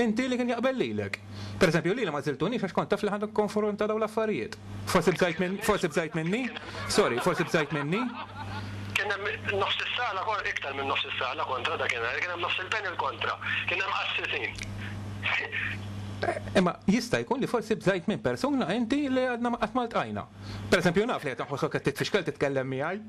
Inti li kien jaqbel lilek. Per eżempju, lili ma żiltunix għax kont taf li ħa nikkonfronta dawn l-affarijiet. Forsi bżajt minn, forsi bżajt minni? Sorry, forsi bżajt minni? Kien hemm nofs is-sala kon, iktar minn nofs is-sala kontra dakinhar, kien hemm nofs il-panel kontra. Kien hemm qassisin. Imma jista' jkun li forsi bżajt minn persuna inti li għadna qatt ma ltqajna. Per eżempju, naf li qed inħossok qed titfixkel titkellem miegħi.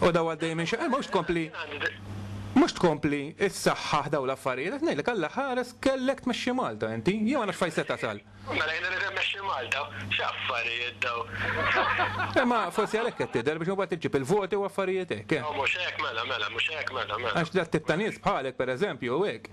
U daw għaddej minn xaqqa, mhux tkompli mhux tkompli issaħħaħ daw l-affarijiet, qed ngħidlek Alla ħares kellek tmexxi Malta inti, jew għandek x'fejn se tasal. Mela jien irrid immexxi Malta? X'affarijiet daw! Imma forsi għalhekk qed tidher biex imbagħad iġġib il-voti u affarijiet hekk, eh. Mhux hekk mela, mela, mhux hekk mela, mela. Għax dat-tip ta' nies bħalek pereżempju u hekk,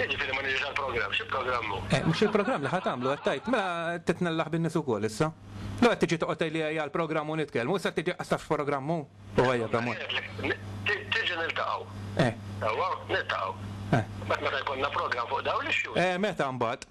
X'jiġifieri ma niġix għall-programm? Xi programm hu? Eh, mhux il-programm li ħa tagħmlu qed tgħid, mela titnellaħ bin-nies ukoll issa. Lew qed tiġi toqgħod tgħidli ejja l-programm u nitkellmu, issa tiġi qas tafx programm hu? U ejja b'amor. Tiġi niltaqgħu. Eh. Sewwa, niltaqgħu. Eh. Mbagħad meta jkollna programm fuq dawn l-issues. Eh, meta mbagħad?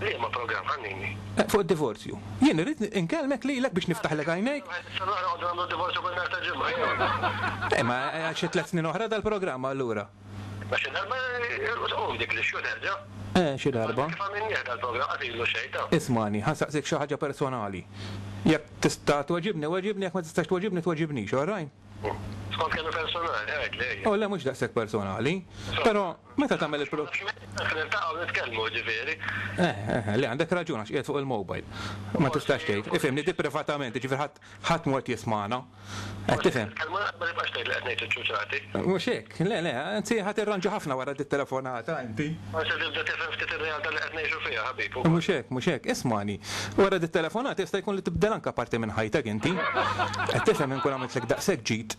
Liema programm, ħannini? Fuq id-divorzju. Jien irrid inkellmek lilek biex niftaħlek għajnejk. Issa noqgħod nagħmlu d-divorzju kull nhar ta' Ġimgħa jew? Eh, ma għad xi tliet snin oħra dal-programm allura. Ma xi darba tqum dik l-issue terġa'. Eh, xi darba. Kif għamilnieh dal-programm qatt ilu xejn, ta'. Ismagħni, ħa nsaqsik xi ħaġa personali. Jekk tista' tweġibni, weġibni, jekk ma tistax tweġibni, tweġibnix, all right? Skont kemm hi personali, għidli ejja. O le mhux daqshekk personali. Però meta tagħmel il-pro. Għax ma tkunx qed niltaqgħu nitkellmu, ġifieri. Eh, eh, le għandek raġun għax qiegħed fuq il-mobile. Ma tistax tgħid. Ifhimni, di privatament, jiġifieri ħadd ħadd mhu qed jismagħna. Qed tifhem? Forsi qed nitkellmu naqra ma tibqax tgħid li qed ngħid iċ-ċuċati. Mhux hekk? Le, le, anzi ħa tirranġa ħafna wara dit-telefonata inti. Forsi tibda tifhem ftit ir-realtà li qed ngħixu fiha, ħabib, ukoll. Mhux hekk, mhux hekk. Ismagħni, wara dit-telefonata jista' jkun li tibdel anke parti minn ħajtek inti. Qed tifhem inkun għamiltlek daqshekk ġid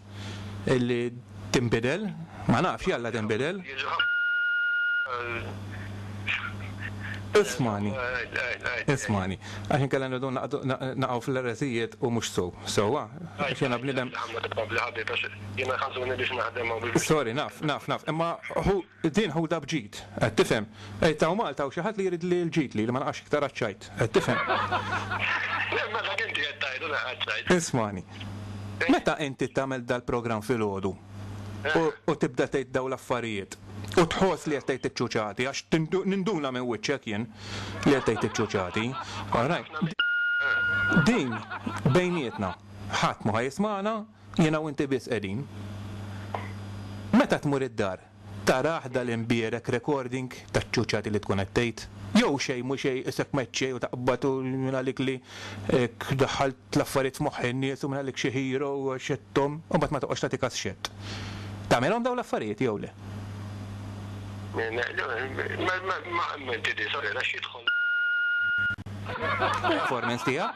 li tinbidel? Ma nafx, jalla tinbidel. Jiġu ħafna. Ismagħni, ismagħni, għax inkella nibdew naqgħu fl-ereżijiet u mhux sew, sewwa? Għax jiena bniedem. Ħammad, ħammad, ħabib, għax. Jiena jħassuni biex naħdem hawn biex. Sorry, naf, naf, naf. Imma hu din ħudha b'ġid. Qed tifhem? Għid hawn Malta hawn xi ħadd li jrid li l-ġid li li ma naqax iktar għaċ-ċajt. Qed tifhem? Le, ma dak inti qed tgħidu naqa' ċ-ċajt. Ismagħni. Meta inti tagħmel dal-programm filgħodu u u tibda tgħid dawn l-affarijiet u tħoss li qed tgħid iċ-ċuċati għax tindu ninduna minn wiċċek jien li qed tgħid iċ-ċuċati. All right. Din bejnietna ħadd mhu ħa jismagħna. Jiena u inti biss qegħdin. Meta tmur id-dar, tarah dal imbierek recording taċ-ċuċati li tkun qed tgħid? Jew xejn mhu xejn isek meċċej u taqbad u mingħalik li hekk daħħalt l-affarijiet f'moħħ in-nies u mingħalik xi hero u għax qed tgħum u mbagħad ma toqgħodx tagħti kas x'qed tagħmilhom dawn l-affarijiet jew le? Performance tiegħek?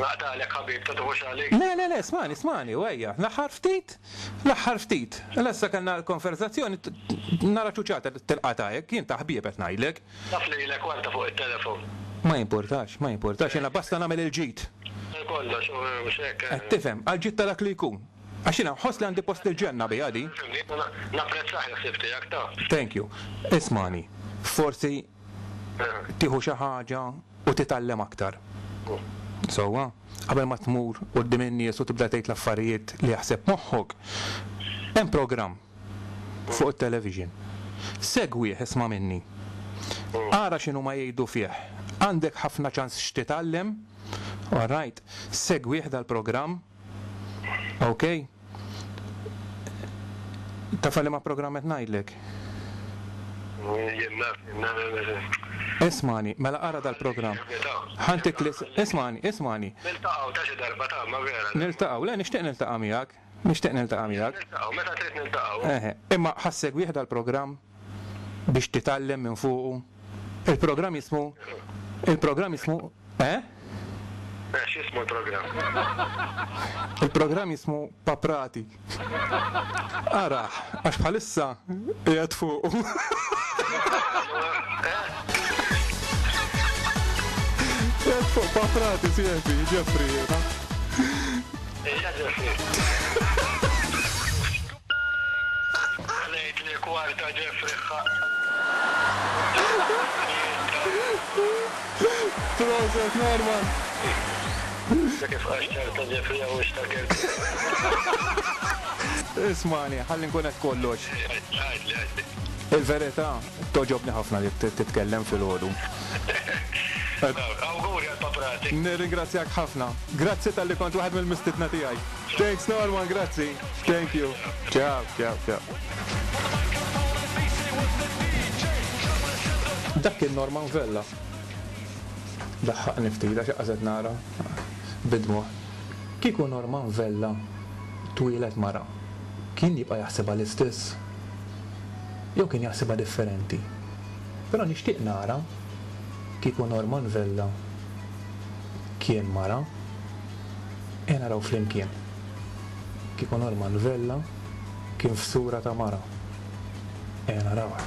Naqtagħlek ħabib, ta' tifux għali? Le, le, le, smagħni, smagħni, u ejja, l-aħħar ftit, l-aħħar ftit, l issa kellna l-konverżazzjoni, nara ċuċata li tilqata' hekk, jien ta' ħbieb qed ngħidlek. Naf lilek u anta fuq it-telefon. Ma jimpurtax, ma jimpurtax, jiena basta nagħmel il-ġid. Għal kollox, u mhux hekk? Qed tifhem, għal ġid ta' dak li jkun. Għax jiena nħoss li għandi post il-ġenna biha din. Fimni, napprezzah il-ħsieb tiegħek, taf. Thank you. Ismagħni, forsi tieħu xi ħaġa u titgħallem aktar. Sewwa? Qabel ma tmur quddiem in-nies u tibda tgħid l-affarijiet li jaħseb moħħok, hemm programm fuq it-television. Segwih, isma' minni. Ara x'inhuma jgħidu fih. Għandek ħafna ċans x'titgħallem. Alright? Segwih dal-programm. Ok? Taf għal ma programm qed ngħidlek? Jien naf, jien naf. Ismani, mela qara dal-programm. Ħantik li ismani, ismani. Niltaqgħu ta' xi darba ta' ma vera. Niltaqgħu, le nixtieq niltaqa' miegħek. Nixtieq niltaqa' miegħek. Niltaqgħu, meta trid niltaqgħu. Eħe, imma ħassegwih dal-programm? biex titgħallem minn fuqu. Il-programm jismu il-programm jismu eh? Eh, x'jismu l-programm? Il-programm jismu Paprati. Arah, għax bħalissa qiegħed fuqu. Qiegħed fuq Paprati, sieħbi, Ġefri, jiena. Ija Ġefri. Ħlejt li kwarta ġie friħħa. Proset Norman! Dak kif qax ċarta ġie friħħa u xtakert. Ismani, ħalli nkun qed kollox. Għidli, għidli. Il-verità, togħġobni ħafna li titkellem filgħodu. Awguri għall-paprati. Nirringrazzjak ħafna. Grazzi talli kont waħed mill-mistiedna tiegħi. Thanks Norman, grazzi. Thank you. Ciao, ciao, ciao. Dak kien Norman Vella. Daħħaqni ftit għax qagħżet nara bid-dmugħ. Kieku Norman Vella twieled mara, kien jibqa' jaħsibha l-istess? Jew kien jaħsibha differenti? Però nixtieq nara kieku Norman Vella kien mara. Ejja naraw flimkien. Kieku Norman Vella kien f'sura ta' mara. Ejja narawha.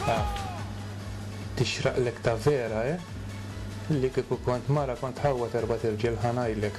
Ah, tixraqlek ta' vera, eh? Li kieku kont mara kont tħawwad erbat irġiel ħa ngħidlek.